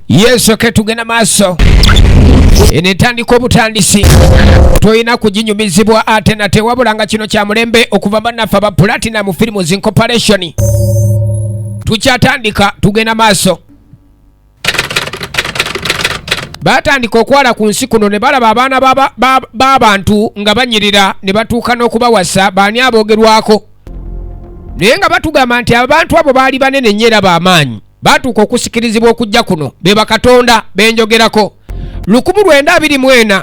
yesu ke tugenda maaso eno etandika obutandisi tolina kuginyumizibwa ate nate wabula nga kino kya mulembe okuva bannaffe aba platinum films incorporation tukyatandika tugenda maaso baatandika okwala ku nsi kuno ne balaba abaana b'abantu nga banyirira ne batuuka n'okubawasa baani aboogerwako naye nga batugamba nti abantu abo baali banene nnyo era b'amaanyi baatuuka okusikirizibwa okujja kuno be bakatonda benjogerako 1924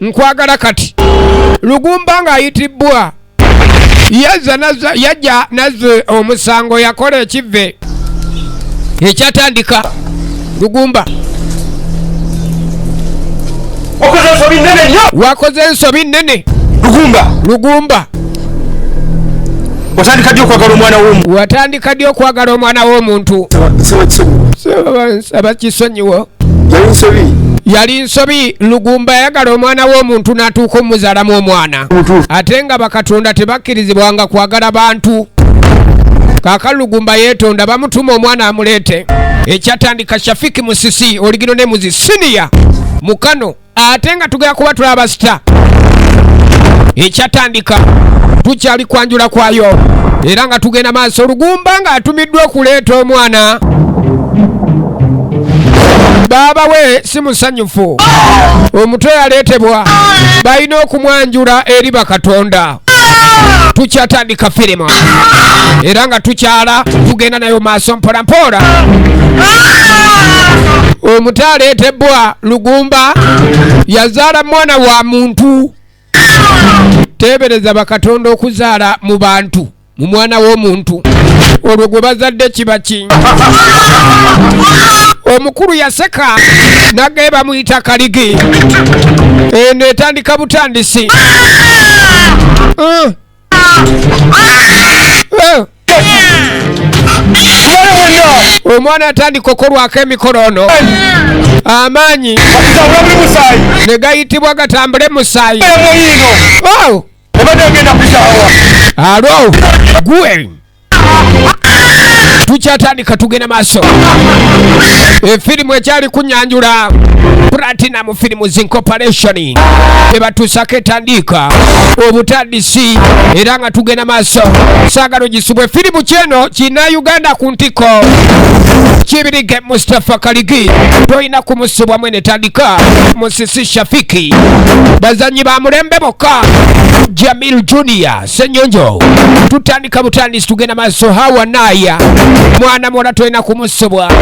nkwagala kati lugumba ng'ayitibbwa yajja nazze omusango yakola ekivve ekyatandika lugumba wakoze ensobi nnene lugumba watandika ddi okwagala omwana womu watandika ddi okwagala omwana w'omuntu nsaba kisonyiwo yali nsobi yali nsobi lugumba yayagala omwana w'omuntu n'atuuka omuzalamu omwana ate nga bakatonda tebakkirizibwanga kwagala bantu kaka lugumba yeetonda bamutuma omwana amuleete ekyatandika shafiki musisi oligino ne muzi siniya mukano ate nga tugera kuba tuli abasita ekyatandika tukyali kwanjula kwayo era nga tugenda maaso olugumba nga atumiddwa okuleeta omwana baaba we si musanyufu omutwe yaleetebwa balina okumwanjula eri bakatonda tukyatandika firimu era nga tukyala tugenda nayo maaso mpola mpola omuto aleetebbwa lugumba yazaala mwana wa muntu teebereza bakatonda okuzaala mu bantu mu mwana w'omuntu olwo gwe bazadde kiba ki omukulu yaseka nagaye bamuyita kaligi eno etandika butandisi uh. Uh. omwana atandika okolwako emikolo ono amaanyi ne gayitibwa gatambule musaayi obadde ogenda kuzaawa alo gwe tukyatandika tugenda maaso efirimu ekyali kunyanjula platinum films incorporation ebatuusako etandiika obutandisi era nga tugenda maaso saagala ogisibwa efirimu kyeno kina uganda ku ntiko kibirige mustapha kaligi tolina kumusibwa netandika musisi shafiki bazanyi ba mulembe bokka jamil junior senyonjo tutandika butandisi tugenda maaso hawa naya mwana muwala tolina kumusubwa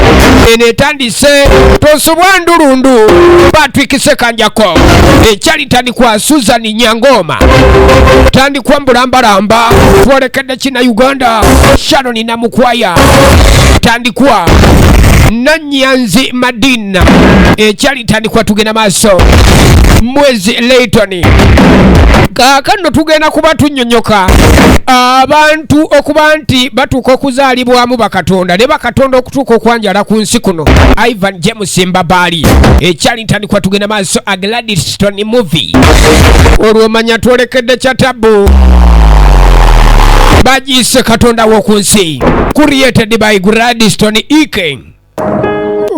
eno etandise tosubwa ndulundu patrick sekanjako ekyali tandikwa susan nyangoma tandikwa mbulambalamba twolekedde kina uganda shanoni namukwaya tandikwa nanyanzi madina na ekyali tandikwa tugenda maaso mwezi Leighton kaakano tugenda kuba tunyonyoka abantu okuba nti batuuka okuzaalibwamu bakatonda ne bakatonda okutuuka okwanjala ku nsi kuno ivan james mbabaali ekyali ntandikwa tugenda maaso agladiston movie olwomanya twolekedde kya tabu bagiyise katonda w'oku nsi created by gladiston eking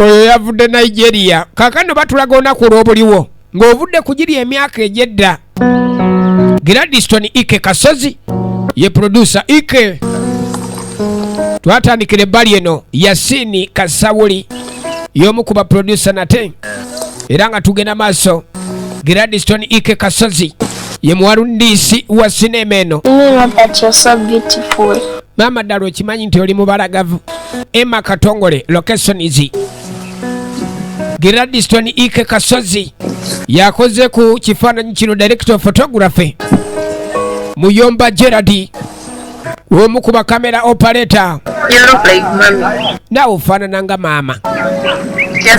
oyo yavudde nigeria kakano batulaga onaku olwobuliwo ng'ovudde ku giri emyaka egyedda gradiston ike kasozi ye producer ike twatandikira ebbali eno yasini kasawuli y'omu ku baproducer nate era nga tugenda maaso gradiston ike kasozi ye muwalundisi wa sinema eno maama ddala okimanyi nti oli mubalagavu emma katongole location is gradiston ike kasozi yakoze ku kifaananyi kino director of photography muyomba gerard omu ku bakamera operator naawe ofaanana nga maama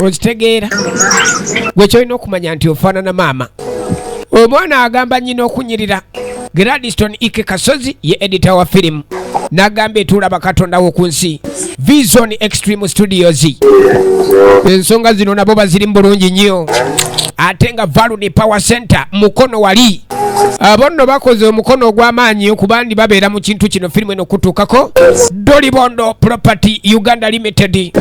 okitegeera gwe kyolina okumanya nti ofaanana maama omwana agamba nyina okunyirira Gladstone Ike Kasozi ye editor wa firimu n'agamba etuula bakatonda w'oku nsi Vision Extreme Studios. Ensonga zino nabo bazirimu bulungi nnyo ate nga Valud Power Center mukono wali abo nno bakoze omukono ogw'amaanyi okubandi babeera mu kintu kino firimu eno okutuukako Dolibondo Property Uganda Limited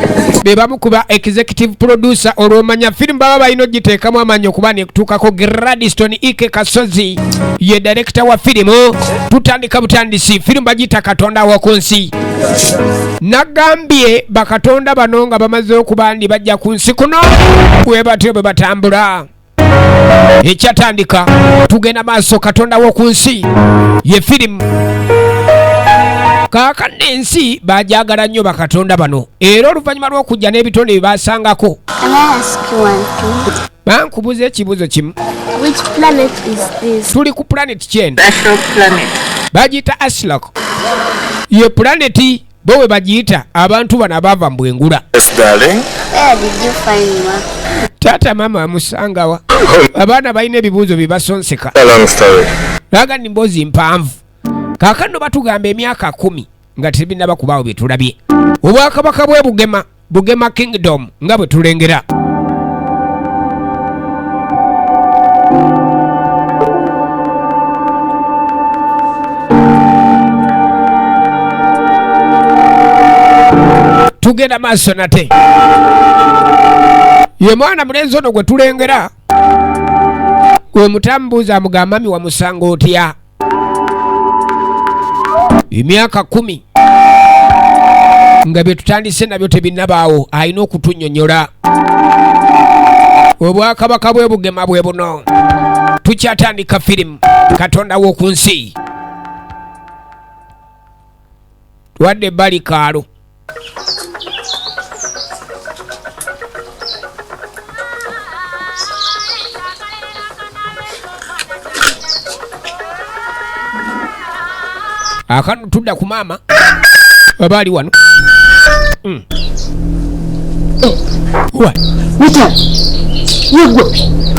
be bamu ku ba executive producer olw'omanya firimu baba balina okugiteekamu amaanyi okuba nekutuukako Gladstone Ike Kasozi ye direkita wa firimu tutandika butandisi firimu bagiyita katonda woku nsi nagambye bakatonda bano nga bamaze okuba ndi bajja ku nsi kuno bwe batyo bwe batambula ekyatandika tugenda maaso katonda woku nsi ye firimu kaakano ensi bajagala nnyo bakatonda bano era oluvannyuma lw'okujja n'ebitonde bye basangako bankubuza ekibuzo kimu tuli ku planet kyenda bagiyita aslok ye planeti bo we bagiyita abantu bano abaava mu bwengula taata maama amusangawa abaana balina ebibuuzo bibasonseka naga ni mboozi mpanvu kakano batugamba emyaka kumi nga tebinaba kubaawo bye tulabye obwakabaka bwe bugema bugema kingdom nga bwe tulengera tugenda maaso nate ye mwana mulenzi ono gwe tulengera gwe mutambuuza mugambami wamusanga otya emyaka kumi nga bye tutandise nabyo tebinnabaawo alina okutunyonyola obwakabaka bwe bugema bwe buno tukyatandika firimu katonda w'oku nsi tuwadde ebbali kaalo akanu tudda ku maama aba ali wano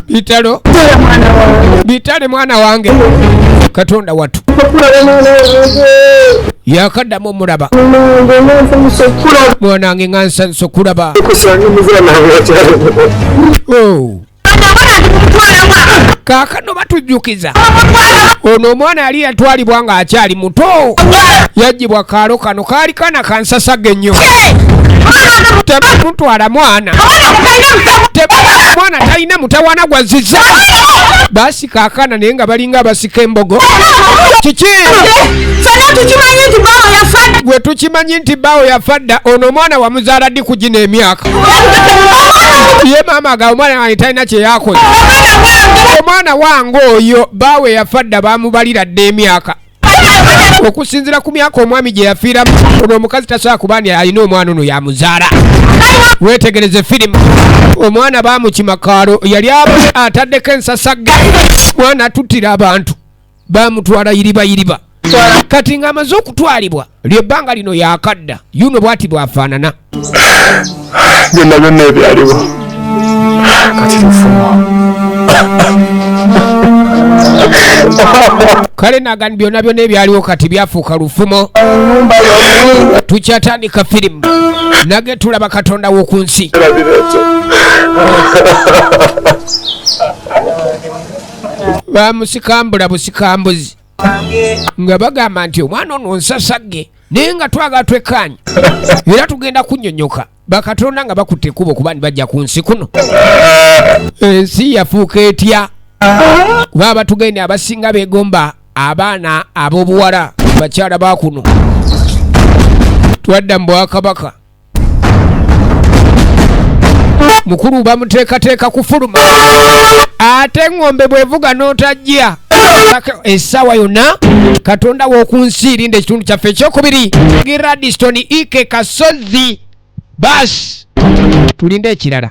bitalo bitale mwana wange katonda watu yakaddamu omulaba mwanange nga nsanso kulaba oh. kaakano batujjukiza ono omwana yali yatwalibwa ng'akyali muto yajjibwa kaalo kano kaali kana kansasaga ennyo temutwala mwana mwana talina mutawana gwaziza basi abakyalabika akaana naye nga balinga abasika embogo kiki fena tukimanyi nti bawo yafadda gwe tukimanyi nti bawo yafadda ono omwana wamuzaala ddi ku gino emyaka ye maama aga omwana wange talina kyeyakoze omwana wange oyo baawe yafadda bamubalira dda emyaka okusinzira ku myaka omwami gye yafiiramu ono omukazi tasobola kuba ni alina omwana ono yamuzaala wetegereze firimu omwana bamukimakaalo yali ataddeko ensasagge mwana atuttira abantu bamutwala yiriba yiriba kati ng'amaze okutwalibwa lyebbanga lino yakadda yuno bwati bwafaanana byonna byonna ebyaliwo kati lufumo kale nagani byonna byonna ebyaliwo kati byafuuka lufumo tukyatandika firimu nage tulaba katonda w'oku nsi bamusikambula busikambuzi nga bagamba nti omwana ono nsasagge naye nga twagala twekkaanya era tugenda kunyonyoka bakatonda nga bakutte ekkubo kuba ndi bajja ku nsi kuno ensi yafuuka etya kuba abatugende abasinga begomba abaana ab'obuwala bakyala bakuno twadda mu bwakabaka mukulu bamuteekateeka kufuluma ate eŋŋombe bwevuga n'otajja essaawa yonna katonda w'oku nsi irinda ekitundu kyaffe ekyokubiri giradiston ike kasozi baasi tulinde ekirala